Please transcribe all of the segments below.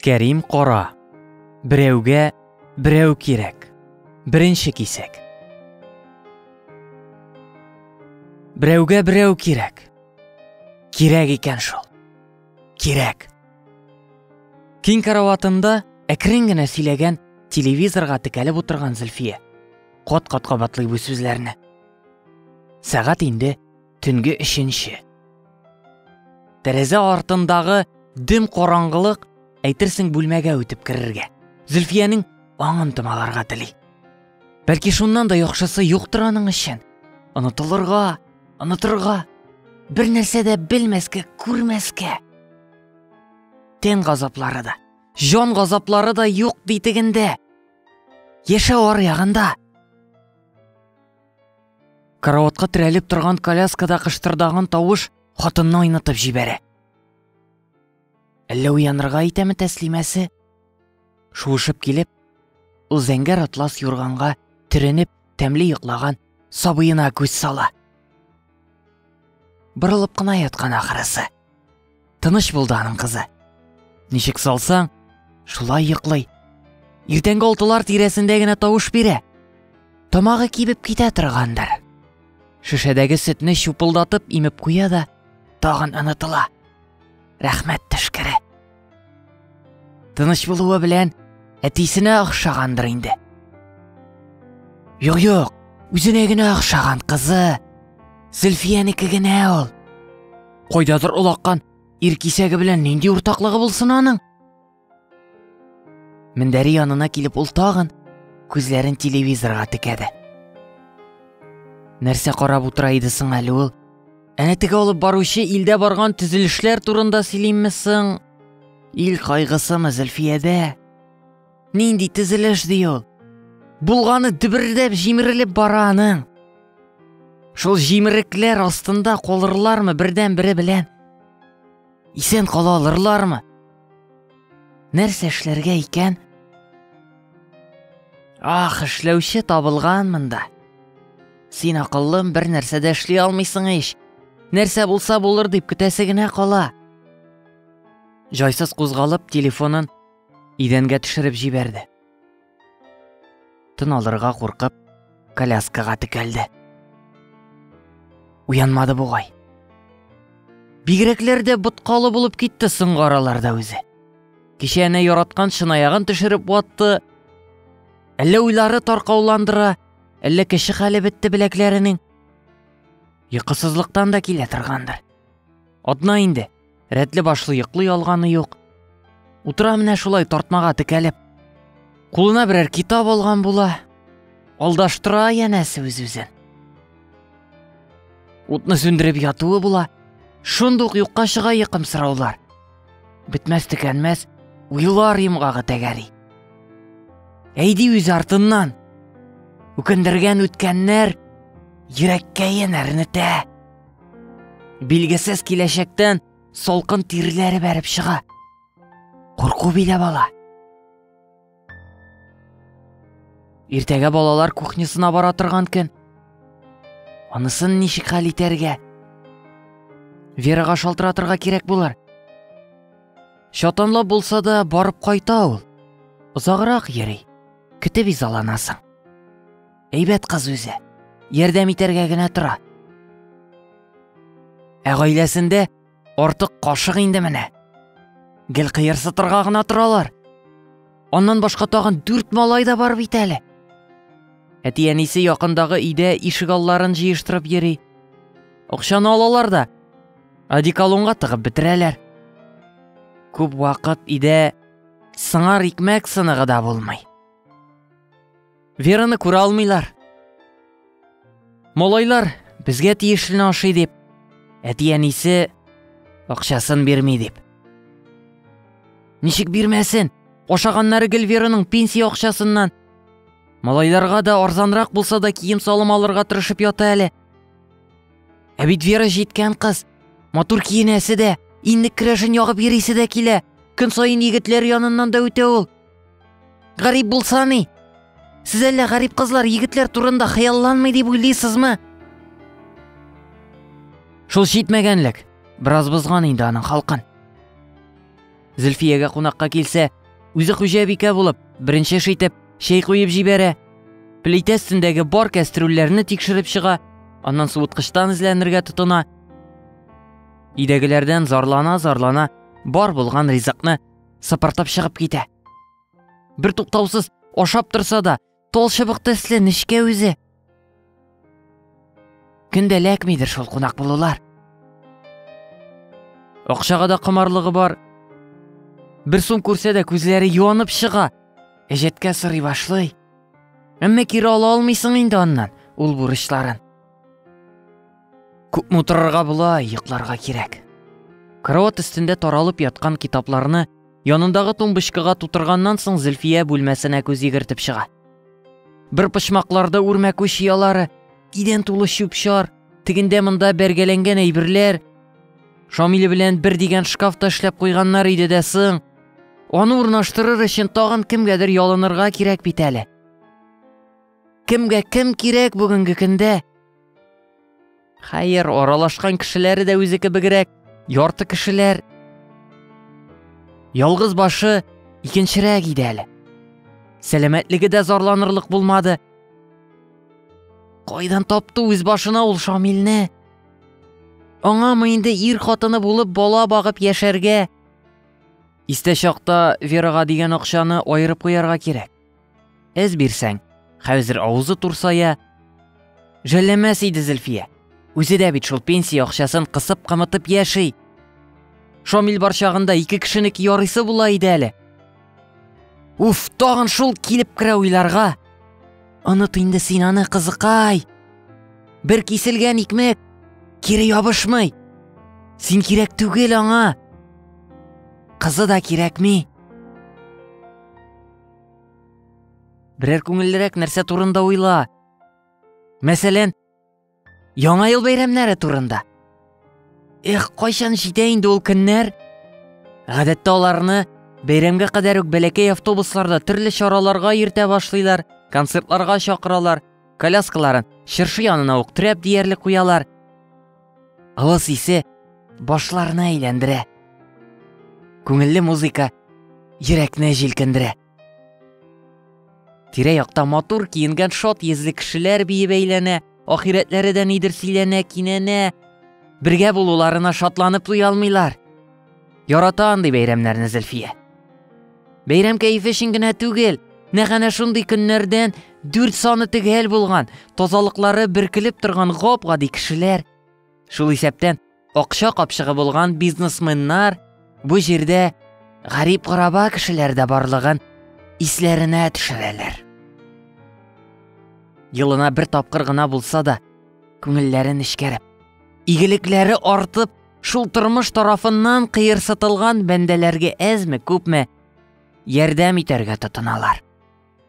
Кәрим кара. Берәүгә берәү кирәк. Беренче кисәк. Берәүгә берәү кирәк. Кирәк икән шул. Кирәк. Киң караватында әкрен генә сөйләгән телевизорга текәлеп утырган Зөлфия. Кат-кат кабатлый бу сүзләрне. Сәгать инде Төнге өченче. Тәрәзә артындагы дөм караңгылык әйтерсең бүлмәгә үтеп керергә. Зөлфиянең аңын томаларга тели. Бәлки шуннан да яхшысы юктыр аның өчен. Онытылырга, онытырга, бер нәрсә дә белмәскә, күрмәскә. Тән газаплары да, җан газаплары да юк битегендә. Яшәү аръягында. Караватка терәлеп торган коляскада кыштырдаган тавыш хатынны айнытып җибәрә. Әллә уянырга итәме тәслимәсе? Шуышып килеп, ул зәңгәр атлас юрганга төренеп, тәмле йоклаган сабыена күз сала. Борылып кына яткан ахырысы. Тыныч булды аның кызы. Ничек салсаң, шулай йоклый. Иртәнге алтылар тирәсендә генә тавыш бирә. Тамагы кибеп китә торгандыр. Шешәдәге сөтне чупылдатып имеп куя да, тагын онытыла. Рәхмәт төшкере. Тыныч булуы белән әтисенә охшагандыр инде. Юк, юк, үзенә генә охшаган кызы. Зөлфиянеке генә ул. Кайдадыр олаккан ир кисәге белән нинди уртаклыгы булсын аның? Мендәре янына килеп ул тагын күзләрен телевизорга текәде. Нәрсә карап утыра иде соң әле ул? Әнә теге алып баручы илдә барган төзелешләр турында сөйлиме соң? Ил кайгысымы Зөлфиядә? Нинди төзелеш ди ул? Булганы дөбердәп җимерелеп бара аның. Шул җимерекләр астында калырлармы бердән-бере белән? Исән кала алырлармы? Нәрсә эшләргә икән? Ах, эшләүче табылган монда. Син акыллым бер нәрсә дә эшли алмыйсың ич. Нәрсә булса булыр дип көтәсе генә кала. Җайсыз кузгалып телефонын идәнгә төшереп җибәрде. Тын алырга куркып, коляскага текәлде. Уянмады бугай. Бигрәкләр дә боткалы булып китте соңгы араларда үзе. Кичә әнә яраткан шынаягын төшереп ватты. Әллә уйлары таркауландыра, әллә кеше хәле бетте беләкләренең. Йокысызлыктан да килә торгандыр. Атна инде, Рәтле башлы йоклый алганы юк. Утыра менә шулай тартмага текәлеп. Кулына берәр китап алган була. Алдаштыра янәсе үз-үзен. Утны сүндереп ятуы була. Шундук юкка чыга йыкым сораулар. Бетмәс текәнмәс уйлар йомгагы тәгәри. Әйди үз артыннан. Үкендергән үткәннәр йөрәккә янәрне тә. Билгесез киләчәктән салкын тирләре бәреп чыга. Курку билә бала. Иртәгә балалар кухнясына бара торган көн. Анысын ничек хәл итәргә? Верага шалтыратырга кирәк булыр. Шатанлап булса да барып кайта ул. Озаграк йөри. Көтеп изаланасың. Әйбәт кыз үзе. Ярдәм итәргә генә тора. Ә гаиләсендә артык кашык инде менә. Гел кыерсытырга гына торалар. Аннан башка тагын дүрт малай да бар бит әле. Әти әнисе якындагы өйдә ишек алларын җыештырып йөри. Акчаны алалар да одеколонга тыгып бетерәләр. Күп вакыт өйдә сыңар икмәк сыныгы да булмый. Вераны күрә алмыйлар. Малайлар безгә тиешлене ашый дип, әти-әнисе акчасын бирми дип. Ничек бирмәсен? Ашаганнары гел Вераның пенсия акчасыннан. Малайларга да арзанрак булса да кием салым алырга тырышып ята әле. Ә бит Вера җиткән кыз. Матур киенәсе дә, иннек керәшен ягып йөрисе дә килә. Көн саен егетләр яныннан да үтә ул. Гарип булса ни? Сез әллә гарип кызлар егетләр турында хыялланмый дип уйлыйсызмы? Шул шитмәгәнлек. Бераз бозган инде аның халкын. Зөлфиягә кунакка килсә, үзе хуҗабикә булып, беренче шитеп, чәй куеп җибәрә. Плитә өстендәге бар кәстрүлләрне тикшереп чыга, аннан суыткычтан эзләнергә тотына. Идәгеләрдән зарлана-зарлана бар булган ризыкны сыпыртып чыгып китә. Бер туктаусыз ашап торса да, тол чыбык төсле нечкә үзе. Көндә ләкмидер шул кунак булулар. Акчага да комарлыгы бар. Бер сум күрсә дә күзләре юанып чыга. Әҗәткә сырый башлый. Әмма кире ала алмыйсың инде аннан ул бурычларын. Күпме утырырга була, йокларга кирәк. Кроват өстендә таралып яткан китапларны янындагы тумбочкага тутырганнан соң Зөлфия бүлмәсенә күз йөгертеп чыга. Бер почмакларда үрмә күш ялары, кидән тулы чүп-чар, тегендә монда бәргәләнгән әйберләр. Шамиле белән бер дигән шкаф та эшләп куйганнар иде дә соң. Аны урнаштырыр өчен тагын кемгәдер ялынырга кирәк бит әле. Кемгә кем кирәк бүгенге көндә? Хәер, аралашкан кешеләре дә үзе кебегрәк, ярты кешеләр. Ялгыз башы икенчерәк иде әле. Сәламәтлеге дә зарланырлык булмады. Кайдан тапты үз башына ул Шамилне? Аңамы инде ир хатыны булып бала багып яшәргә? Истә чакта Верага дигән акчаны аерып куярга кирәк. Эз бирсәң, хәзер авызы турсая. Жәлләмәс иде Зөлфия. Үзе дә бит шул пенсия акчасын кысып кымытып яши. Шамил бар чагында ике кешенеке ярыйсы була иде әле. Уф, тагын шул килеп керә уйларга. Оныт инде син аны, кызыкай. Бер киселгән икмәк кире ябышмый. Син кирәк түгел аңа. Кызы да кирәкми. Берәр күңеллерәк нәрсә турында уйла. Мәсәлән, Яңа ел бәйрәмнәре турында. Эх, кайчан җитә инде ул көннәр? Гадәттә аларны бәйрәмгә кадәр үк бәләкәй автобусларда төрле чараларга йөртә башлыйлар, концертларга чакыралар, коляскаларын чыршы янына ук трәп диярлек куялар. Авыз исе башларны әйләндерә. Күңелле музыка йөрәкне җилкендерә. Тирә-якта матур киенгән шат йөзле кешеләр биеп әйләнә, ахирәтләре дә нидер сөйләнә, кинәнә. Бергә булуларына шатланып туя алмыйлар. Ярата андый бәйрәмнәрне Зөлфия. Бәйрәм кәефе өчен генә түгел, нәкъ шундый көннәрдән дүрт саны төгәл булган, тазалыклары бөркелеп торган гап-гади кешеләр, шул исәптән акча капчыгы булган бизнесменнар бу җирдә гарип гораба кешеләр дә барлыгын исләренә төшерәләр. Елына бер тапкыр гына булса да, күңелләрен эшкәреп, игелекләре артып, Шул тормыш тарафыннан кыерсытылган бәндәләргә әзме, күпме ярдәм итәргә тотыналар.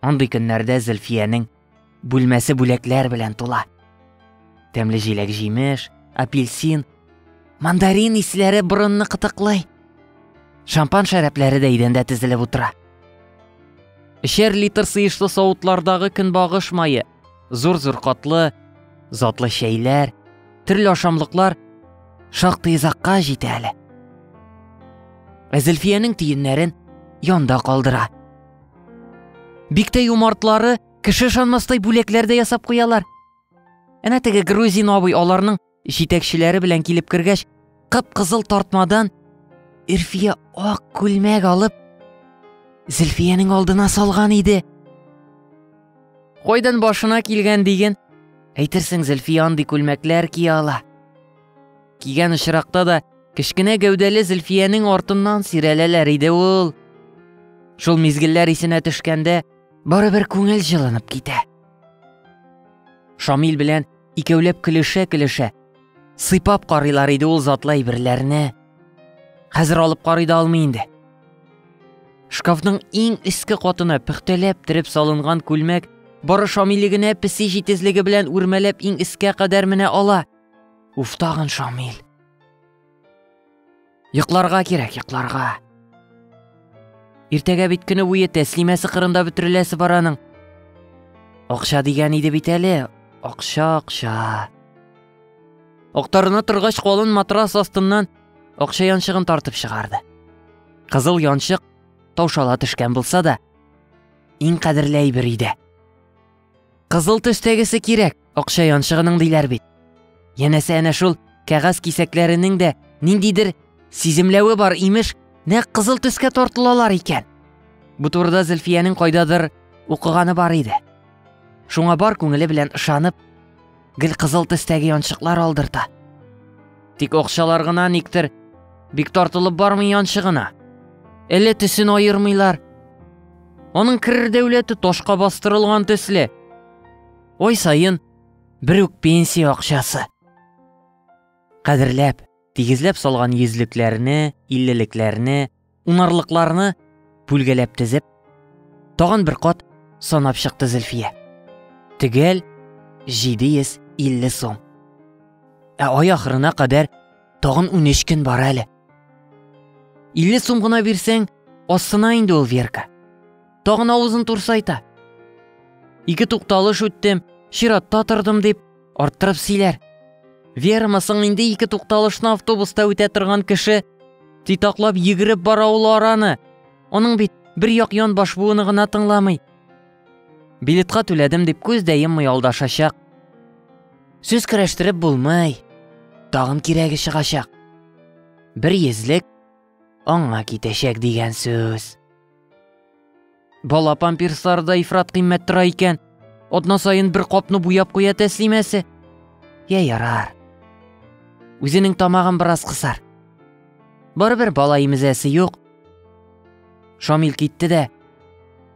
Андый көннәрдә Зөлфиянең бүлмәсе бүләкләр белән тула. Тәмле җиләк җимеш, апельсин, мандарин исләре борынны кытыклый. Шампан шәрәпләре дә идәндә тезелеп утыра. Эчәр литр сыешлы савытлардагы көнбагыш мае, Зур-зур катлы, затлы чәйләр, төрле ашамлыклар шактый озакка җитә әле. Ә Зөлфиянең тиеннәрен янда калдыра. Бик тә юмартлары кеше ышанмастай бүләкләр дә ясап куялар. Әнә теге грузин абый аларның Җитәкчеләре белән килеп кергәч, кып-кызыл тартмадан Ирфия ак күлмәк алып, Зөлфиянең алдына салган иде. Кайдан башына килгән диген, әйтерсең Зөлфия андый күлмәкләр кия ала. Кигән очракта да кечкенә гәүдәле Зөлфиянең артыннан сирәләләр иде ул. Шул мизгелләр исенә төшкәндә, барыбер күңел җылынып китә. Шамил белән икәүләп көлешә-көлешә, сыйпап карыйлар иде ул затлы әйберләрне. Хәзер алып карый да алмый инде. Шкафның иң өске катына пөхтәләп тиреп салынган күлмәк бары Шамиле генә песи җитезлеге белән үрмәләп иң өскә кадәр менә ала. Уф, тагын Шамил. Йокларга кирәк, йокларга. Иртәгә бит көне буе тәслимәсе кырында бөтереләсе бар аның. Акча дигән иде бит әле. Акча, акча. Актарына торгач калын матрас астыннан акча янчыгын тартып чыгарды. Кызыл янчык таушала төшкән булса да, иң кадерле әйбер иде. Кызыл төстәгесе кирәк, акча янчыгының диләр бит. Янәсе әнә шул кәгазь кисәкләренең дә ниндидер сиземләве бар имеш, нәкъ кызыл төскә тартылалар икән. Бу турыда Зөлфиянең кайдадыр укыганы бар иде. Шуңа бар күңеле белән ышанып, гел кызыл төстәге янчыклар алдырта. Тик акчалар гына никтер бик тартылып бармый янчыгына. Әле төсен аермыйлар. Аның керер дәүләте ташка бастырылган төсле. Ой сайын бер үк пенсия акчасы. Кадерләп, тигезләп салган йөзлекләрне, иллелекләрне, унарлыкларны бүлгәләп тезеп, тагын бер кат санап чыкты Зөлфия. Төгәл 750 сум. Ә ай ахырына кадәр тагын 13 көн бар әле. 50 сум гына бирсәң, астына инде ул Верка. Тагын авызын турсайта. Ике тукталыш үттем, чиратта тордым дип, арттырып сөйләр. Верма соң инде ике тукталышны автобуста үтә торган кеше титаклап йөгереп бара ул араны. Аның бит бер як ян баш буыны гына тыңламый. Билетка түләдем дип күз дә йоммый алдашачак. Сүз керәштереп булмый. Тагын кирәге чыгачак. Бер йөзлек аңа китәчәк дигән сүз. Бала памперслары да ифрат кыйммәт тора икән. Атна саен бер капны буяп куя тәслимәсе. Я ярар. Үзенең тамагын бераз кысар. Барыбер бала имезәсе юк. Шамил китте дә.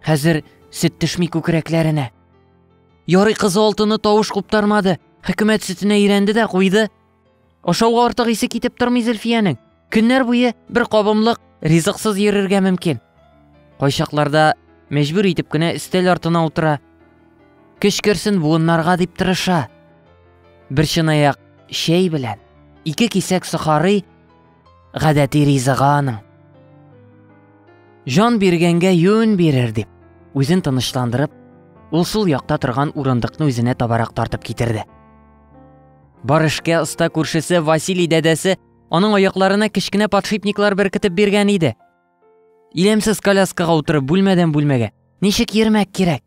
Хәзер сөт төшми күкрәкләренә. Ярый кызы алтыны тавыш куптармады. Хөкүмәт сөтенә өйрәнде дә куйды. Ашауга артык исе китеп тормый Зөлфиянең. Көннәр буе бер кабымлык ризыксыз йөрергә мөмкин. Кайчакларда мәҗбүр итеп кенә өстәл артына утыра. Көч керсен буыннарга дип тырыша. Бер чынаяк чәй белән ике кисәк сохарый гадәти ризыгы аның. Жан биргәнгә юн бирер дип, үзен тынычландырып, ул сул якта торган урындыкны үзенә табарак тартып китерде. Бар эшкә оста күршесе Василий дәдәсе аның аякларына кечкенә подшипниклар беркетеп биргән иде. Илемсез коляскага утырып бүлмәдән бүлмәгә ничек йөрмәк кирәк?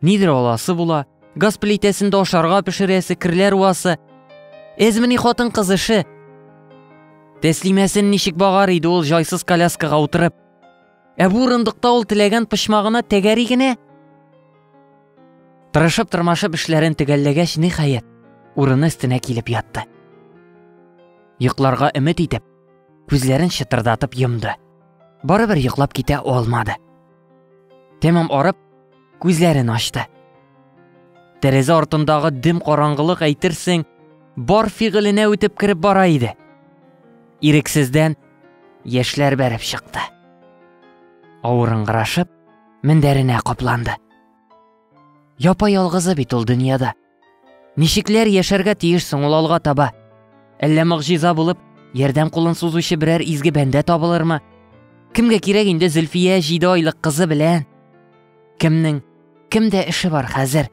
Нидер аласы була, газ плитәсендә ашарга пешерәсе, керләр уасы. Эзмени хатын кыз эше. Тәслимәсен ничек багар иде ул җайсыз коляскага утырып. Ә бу урындыкта ул теләгән почмагына тәгәри генә. Тырышып тырмашып эшләрен төгәлләгәч, ниһаять, урыны өстенә килеп ятты. Йокларга өмет итеп, күзләрен чытырдатып йомды. Барыбер йоклап китә алмады. Тәмам арып, күзләрен ачты. Тәрәзә артындагы дөм караңгылык әйтерсең, бар фигыленә үтеп кереп бара иде. Ирексездән Яшьләр бәреп чыкты. Авырыңгырашып, мендәренә капланды. Япа ялгызы бит ул дөньяда. Ничекләр яшәргә тиеш соң ул алга таба? Әллә могҗиза булып, ярдәм кулын сузучы берәр изге бәндә табылырмы? Кемгә кирәк инде Зөлфия җиде айлык кызы белән? Кемнең, кемдә эше бар хәзер?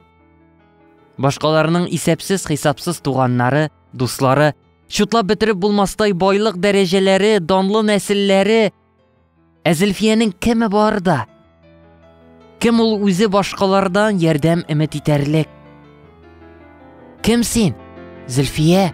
Башкаларның исәпсез-хисапсыз туганнары, дуслары Чутлап бетереп булмастай байлык дәрәҗәләре, данлы нәселләре. Ә Зөлфиянең кеме бар да? Кем ул үзе башкалардан ярдәм өмет итәрлек? Кем син, Зөлфия?